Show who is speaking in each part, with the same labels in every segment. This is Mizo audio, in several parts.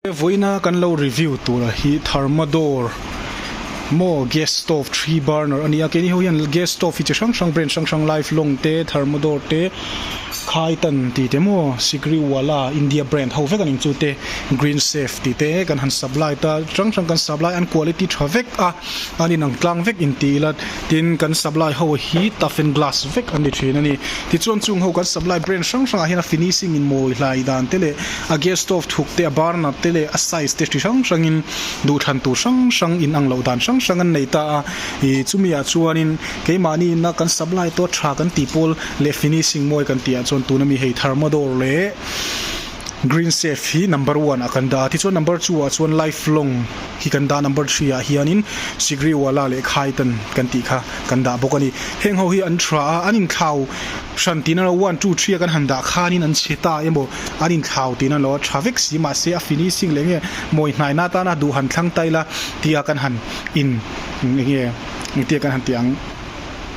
Speaker 1: Vawiina kan lo review tura hi Thermador maw gas stove three burner ania kei ni ho hian gas stove hi chi hrang hrang brand hrang hrang life long te Thermador te Khaitan tih te maw Sigri wala India brand ho vek aning chu te green safe tih te kan han supply ta hrang hrang kan supply an quality tha vek a an inang tlang vek inti ila. Tin, kan supply ho hi tough and glass vek a ni thin a ni. Tichuan, chung ho kan supply brand hrang hrangah hian a finishing inmawi hlai dan te leh a gas stove thuk te, a burner te leh a size te chi hrang hrangin duhthlan tur hrang hrang in anglo dan hrang hrang an nei ta a. Ih, chumiah chuanin keimahni ina kan supply tawt tha kan tih pawl leh finishing mawi kan tihah chuan tuna mi hei Thermador leh Greensafe hi number one-ah kan dah a. Tichuan number two-ah chuan Lifelong Hi kan dah number three ah hianin Sigriwala leh Khaitan kan tih kha kan dah bawk a ni. Heng ho hi an tha a, an inthlau hran tihna lo, one, two, three a kan han dah khanin an chhe ta emaw an inthlau tihna lo a tha vek si mahse a finishing leh nge mawi hnaihna atana duh han thlang ta ila tia kan han in eng nge tia kan han tih ang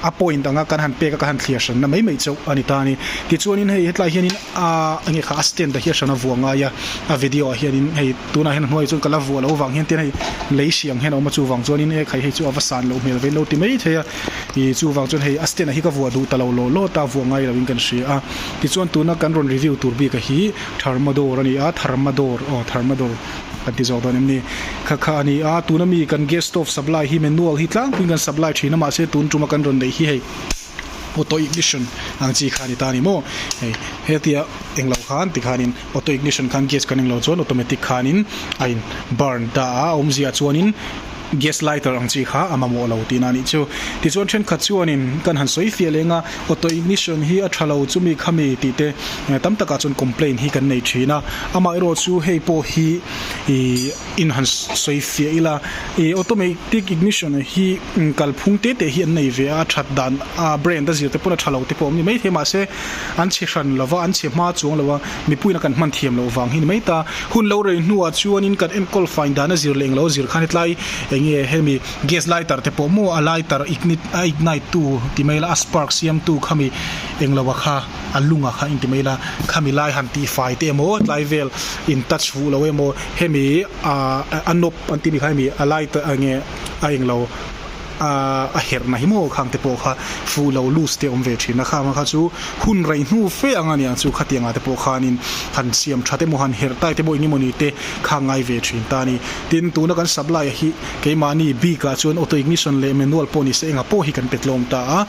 Speaker 1: a point anga kan han pek a kan han thliar hranna mai mai chauh a ni ta a ni. Tichuanin hei hetlai hianin. Aaa enge kha a stand a hi a hran a vuah ngai a a video ah hianin hei tunah hian a hnuai ah chuan ka la vuah loh vang hian tian hei lei hriang hian a awm a chuvang chuanin e khai hei chu a va san loh hmel vei lo ti mai thei a ih chuvang chuan hei a stand ah hi ka vuah duh ta lo lawh lawt a vuah ngai loin kan hria a tichuan tuna kan rawn review tur bik a hi tharmador a ni a tharmador aw tharmador kan ti zawk dawn em ni kha kha a ni a tuna mi kan gas stove supply hi manual hi tlangpuiin kan supply thin a mahse tun tuma kan rawn neih hi hei Auto ignition ang chi kha a ni ta a ni maw? Hei hetia englo khan tikhanin auto ignition khan gas kan englo chuan automatic khanin a in burn ta a, a awmzia chuanin gas lighter ang chi kha a mamawh lo tihna a nih chu. Tichuan thenkhat chuanin kan han sawi fiah leng a, auto ignition hi a tha lo chu mi kha mi tih te tam takah chuan complain hi kan nei thin a, amaherawhchu hei pawh hi ih. in han sawi fiah ila e automatic ignition hi kalphung te te hi an nei ve a a that dan a brand a zir te pawn a tha lo te pawh awm ni maithei mahse an chhe hran lova an chhe hma chuang lova mipuiin a kan hman thiam loh vang hi ni mai ta hun lo rei hnuah chuanin kan enkawlh fine dan a zir leh englo zir khan hetlai enge hemi gas lighter te pawh maw a lighter ignite a ignite tu ti mai ila a spark siam tu khami englo a kha a lungah kha inti mai ila khami lai han tih fai te emaw tlai vel in touch vuh loh emaw hemi ahh a nawp an timi kha hemi a lai ta eng nge a eng lo ahh a herhna hi maw khang te pawh kha fuh loh loose te awm ve thin a khama kha chu hun raih hnu fe anga nia chu khatiang ah te pawh khanin han siam tha te maw han herh tai te maw enge mawni te kha a ngai ve thin ta a ni tin tuna kan sap lai hi keimahni bik ah chuan auto ignition leh manual pawh ni se engah pawh hi kan petlawm ta a.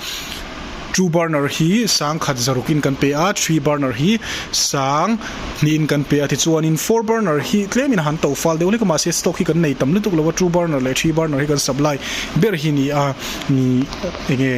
Speaker 1: Two burner hi sang khat zaruk in kan pe a, three burner hi sang hnih in kan pe a tichuan in four burner hi tlem in a han to fal deuh hlek a mah se stock hi kan nei tam lutuk lo a two burner leh three burner hi kan sap lai ber hi ni a ni enge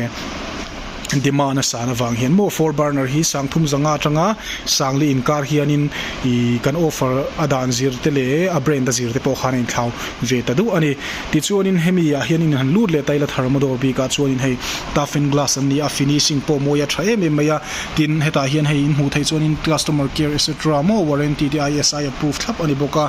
Speaker 1: demand a san avang hian maw four burner hi sang thum zanga atanga sang leh in kar hian in ih kan offer a dan zir te leh a brand a zir te pawh khan a in thlau ve ta duh a ni. Tichuanin hemi ah hian in han lut leh taila thar motor bik ah chuan in hei taffin glass an ni a finishing pawh mawi a tha em em mai a tin hetah hian hei in hmuh theih chuan in customer care etc maw warranty te ISI approved thlap a ni bawk a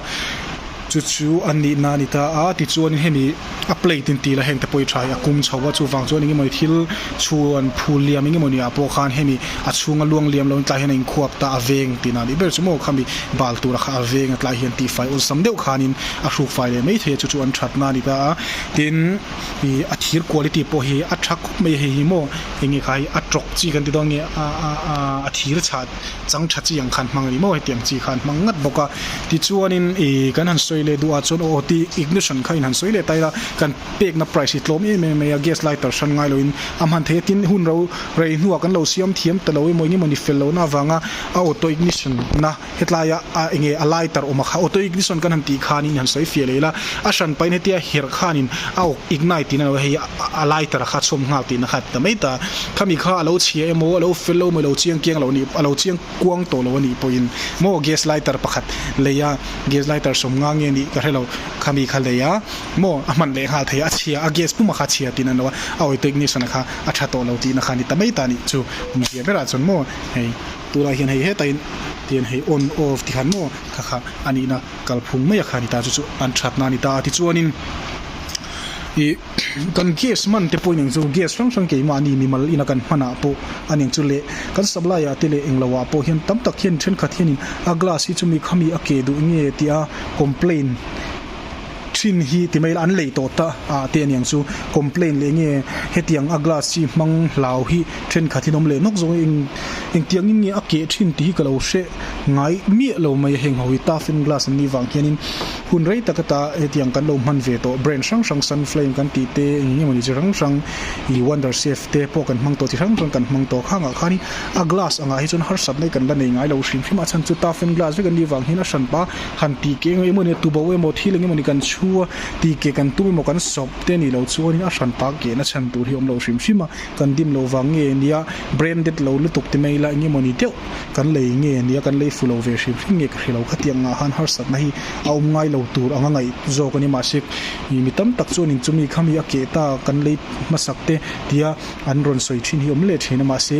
Speaker 1: chu chu a nih na a ni ta a tichuan hemi a plate in ti la heng te pawh i tha hi a kum chho a chuvang chuan enge mawni thil chhuan phul liam enge mawni ah pawh khan hemi a chhung a luang liam loin tlai hian a in khuap ta a veng tina bik ber chu maw khami bal tur a kha a veng a tlai hian tihfai awlsam deuh khan in a hruk fai leh maithei chu chu an thatna a ni ta a, tin i a thir quality pawh hi a tha khawp mai hei hi maw enge kha hei a tawk chi kan ti dawn a nge a a a a thir chha chang tha chi ang khan hmang a ni maw hetiang chi kha an hmang ngat bawk a tichuanin i kan han sawi leh duh ah chuan aw ti ignition kha in han sawi leh ta ila kan pekna price hi tlawm em em mai a gas lighter hran ngai loin a hman thei a tin hunro rei hnuah kan lo siam thiam ta lo emaw enge mawni fel lohna avanga a auto ignition na Hetlaia a enge a lai tar awm a kha auto ignition kan han tih khan in han sawi fiah leh ila a hran pahin hetia herh khan in a awk ignite tina lo hei a lai tar a kha chhawm nghal tihna kha ta mai ta kha mi kha a lo chhia emaw a lo fel lo emaw a lo chiang kiang lo anih a lo chiang kuang tawh lo anih pawhin maw gas lai tar pakhat lei a gas lai tar sawm nga nge nih ka hrelo kha mi kha lei a maw a hman leh nghal thei a a chhia a gas puma kha chhia tina lo a auto ignition a kha a tha tawh lo tihna kha ni ta mai ta nih chu awm zia berah chuan maw hei. tunah hian hei heta in tian hei on off tih khan maw kha kha a nihna kalphung mai a kha a ni ta chu chu an thatna a ni ta tichuanin ih kan gas man te pawh inang chu gas hrang hrang keimahni mimal ina kan hmanah pawh a ning chu leh kan supply ah te leh englo ah pawh hian tam tak hian thenkhat hianin a glass hi chu mi khami a ke duh nge tih a complain Thin hi ti mai ila an lei tawh ta a te aniang chu complain leh nge hetiang a glass chi hmang hlau hi thenkhatin awm leh nawk zawk eng engtiang in nge a keh thin tih hi ka lo hreh ngai miah lo mai a heng ho hi taffin glass an nih vang hianin hun rei tak a ta a hetiang kan lo hman ve tawh brand hrang hrang sun flame kan tih te eng emaw ni chi hrang hrang ih wonder safe te pawh kan hmang tawh chi hrang hrang kan hmang tawh khang ah khanin a glass ang ah hi chuan harsat mai kan la nei ngai lo hrim hrim a a chhan chu taffin glass vek an nih vang hian a hran pa. han tih keng emaw ni a tubo emaw thil eng emaw ni kan chhu a tih keh kan tum emaw kan sawp te ni lo chuanin a hran tak kehna chhan tur hi awm lo hrim hrim a kan dim lo vang nge nia branded lo lutuk te mai ila eng emaw ni deuh kan lei nge nia kan lei fu lo ve hrim hrim nge ka hre lo khatiang ngah han harsat na hi a awm ngai lo tur anga ngaih zawk a ni mahse ih mi tam tak chuanin chu mi khami a keh ta kan lei hmasak te tia an rawn sawi thin hi awm leh thin a mahse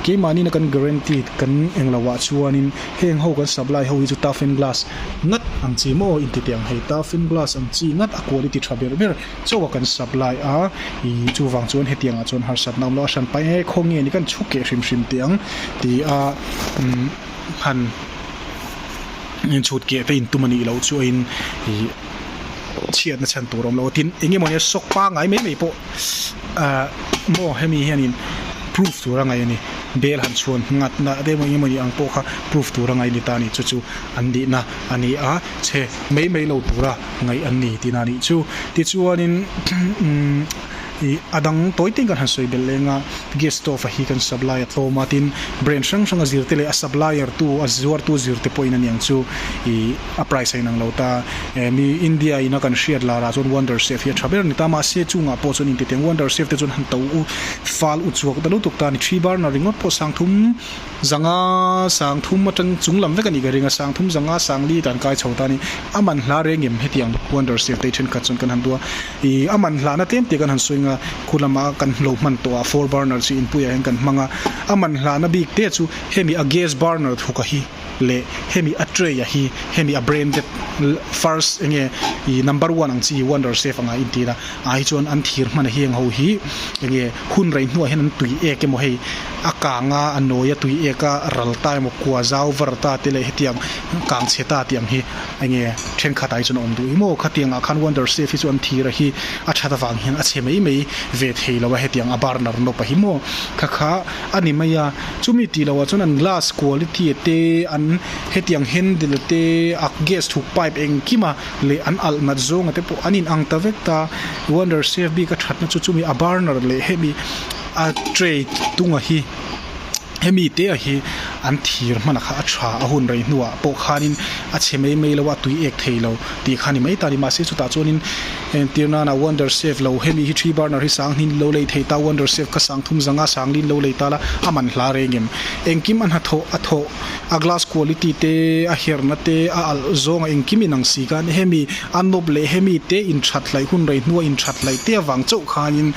Speaker 1: keimah nina kan guarantee kan eng lo ah chuanin Heng ho kan sap lai ho hi chu Taffin Glass ngat ang chi maw inti teh ang hei, Taffin Glass ang chi ngat a quality tha ber ber chauh a kan sap lai a, ih chuvang chuan hetiangah chuan harsatna awm lo a hran paih e khaw nge ni kan chhu keh hrim hrim teh ang ti a han inchhut keh te intum anih loh chu in ih chhiatna chhan tur awm lo tin eng emawni a shock pangai mai mai pawh ah maw hemi hianin proof tur a ngaih a ni bel han chhuan nghat na te emaw emaw ni ang pawh kha proof tur a ngaih a ni ta ni chu chu an dihna a ni a chhe mai mai lo tura ngaih an ni tina nih chu tichuanin umm ih a dang tawi teng kan han sawi belh leng a gas stove a hi kan supply a tlawm a tin brand hrang hranga zirte leh a supplier tu a zuar tu zirte pawhin a niang chu ih-- A price a inang lo ta. Eh mi India ina kan hriat lara chuan wonder safe hi a tha ber ani ta mahse chungah pawh chuan intiteng wonder safe te chuan han to u fal u chhuak ta lutuk ta ani thi barna ringawt pawh sangthum zanga sangthum atang chung lam vek anih ka ringa sangthum zanga sangli ta an kai chho ta ani a man hla reng em hetiang wonder safe te hi thenkhat chuan kan han tua i a man hla na tlem te kan han sawi anga khu lama kan lo hman tawh a four burner chi inpuiah hian kan hmang a a man hla na bik te chu hemi a gas burner thuka hi leh hemi a tray a hi hemi a branded first eng nge ih number one ang chi wonder chef anga inti ila a hi chuan an thir hman a heng ho hi eng nge hun rei hnuah hian an tui ek emaw hei a kang a a nawi a tui ek a ral ta emaw kua zau var ta te leh hetiang kang chhe ta tiang hi eng nge thenkhat ah hi chuan a awm duh hi maw khatiang ah khan wonder chef hi chuan thir a hi a that avang hian a chhe mai mai ve thei lo a hetiang a burner nawp a hi maw kha kha. a ni mai a, chumi tih loh ah chuan an glass quality a te, an hetiang handle a te, a gas thuk pipe engkim a leh an alh nghat zawng a te pawh an in ang ta vek ta, wonder safe bik a thatna chu chumi a burner leh hemi a tray tung a hi hemi te a hi an thir hman a kha a tha a hun rei hnu ah pawh khan in a chhe mai mai lo a tui ek thei lo tih kha a ni mai ta a ni, mahse chutah chuan in. heng tir nana wonder safe lo hemi hi thi burner hi sang hnin lo lei thei ta wonder safe ka sang thum zanga sang lin lo lei ta la a man hla reng em engkim a hna thawh a thawh a glass quality te a her na te a alh zawng a engkim inang si khan hemi a nawp leh hemi te in that hlai hun rei hnua in that hlai te avang chauh khan in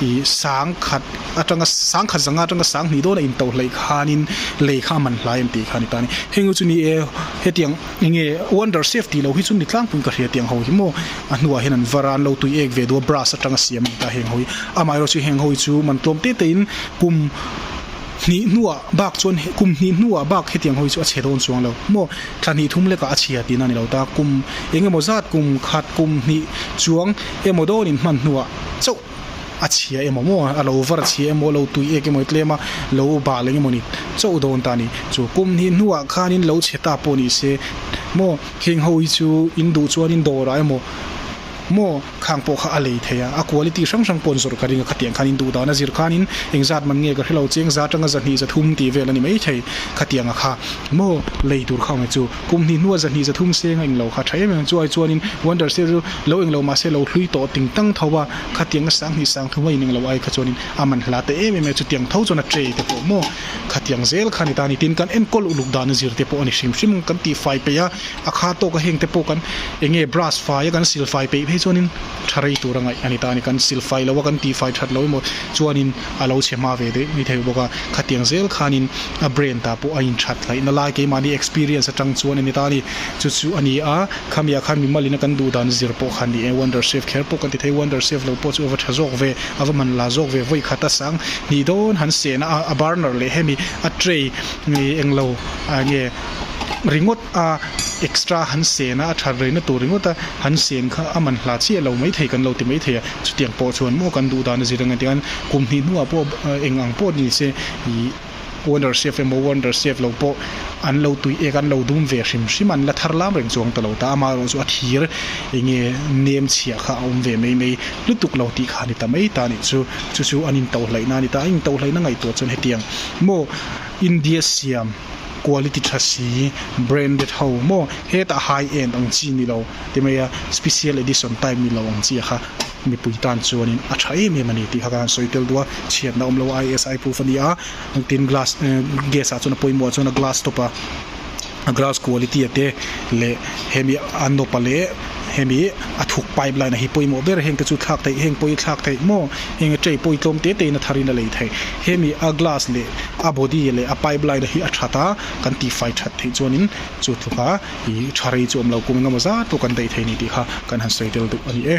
Speaker 1: i sang khat atanga sang khat zanga atanga sang hnih dawn a in to hlei khan in lei kha a man hla em tih khan i ta ni heng chu ni e hetiang Enge wonder safe tih lo hi chu mi tlangpuiin ka hria tiang ho hi maw? A hnuah hian an var a, an lo tui ek ve duh a, brass atanga siam a ni ta heng ho hi. Amaherawh chu heng ho hi chu man tlawm te tein kum hnih hnuah bak chuan kum hnih hnuah bak hetiang ho hi chu a chhe dawn chuang lo maw? Thla hnih thum lekah a chhia tihna a ni lo ta, kum engemaw zat kum khat, kum hnih chuang emaw dawn in hman hnuah chauh. a chhia emaw maw a lo var chhia emaw a lo tui ek emaw i tlem a lo bah leng emaw ni chauh dawn ta ni chu kum hnih hnuah khanin lo chhe ta pawh ni se maw heng ho hi chu in duh chuanin dawrah emaw maw khang pawh kha a lei thei a a quality hrang hrang pawn zawrh ka ring a khatiang khan in duh dan a zir khanin engzat man nge ka hrelo cheng za tanga za hnih za thum tih vel a ni maithei khatianga kha maw lei tur kha awm e chu. Kum hnih hnua zahnih zathum senga eng lo kha tha em em chu ai chuanin wonder sale chu lo eng lo mahse lo hlui tawh ting tang tho a, khatianga sang hnih sang thuma ineng lo ai kha chuanin a man hla ta em em e, chutiang tho chuan a tray te pawh maw khatiang zel kha a ni ta a ni. Tin, kan enkawl uluk dan a zir te pawh a ni hrim hrim kan tih fai peih a, a kha tawka heng te pawh kan eng nge brush faia kan sil fai peih phei chuanin tha rei tur a ngaih a ni ta a ni, kan sil fai lo a kan tih fai that lo emaw chuanin A lo chhe hma ve daih ni thei bawk a, khatiang zel khanin a brain tah pawh a inthat hlaih nalai keimahni experience atang chuan a ni ta a ni. Chu chu a ni a, khamiah khan mi malin a kan duh dan zir pawh khan nia wonder chef kher pawh kan ti thei, wonder chef lo pawh chu a va tha zawk ve, a va man la zawk ve vawi khat a sang hnih dawn han sen a, a burner leh hemi a tray mi eng lo a nge ringawt a extra han sen a, a that rei na tur ringawt a han sen kha a man hla chiah lo mai thei kan lo ti mai thei a. chutiang pawh chuan maw kan duh dan a zir ang tia hian kum hnih hnungah pawh eng ang pawh ni se ih wonder chef emaw wonder chef lo pawh an lo tui ek an lo dum ve hrim hrim an la thar lam reng chuang ta lo ta amah erawh chu a thir enge nem chhiah kha a awm ve mai mai lutuk lo tih kha a ni ta mai ta nih chu chu chu an in to hlaihna a ni ta a in to hlaihna ngaihtuah chuan hetiang maw India siam quality thla si, branded ho maw, hetah high end ang chi ni lo ti mai a, special edition type ni lo ang chi a kha mipui tan chuanin a tha em em a ni tih kha kan sawi tel duh a, chhiatna awm lo a ISI proof a ni a, tin glass gas ah chuan a pawimawh ah chuan a glass stop a glass quality a te leh hemi a nawpa leh. hemi a thuk pipe line a hi pawimawh ber heng te chu thlak theih heng pawi thlak theih maw heng a ṭei pawi tlawm tete ina thar in a lei thei hemi a glass leh a body leh a pipe line a hi a ṭhat a kan tifai ṭhat theih chuan in chu tluka ih ṭha rei chu awm lo kung engemaw zat pawh kan daih thei a ni tih kha kan han sawi tel duh a ni e.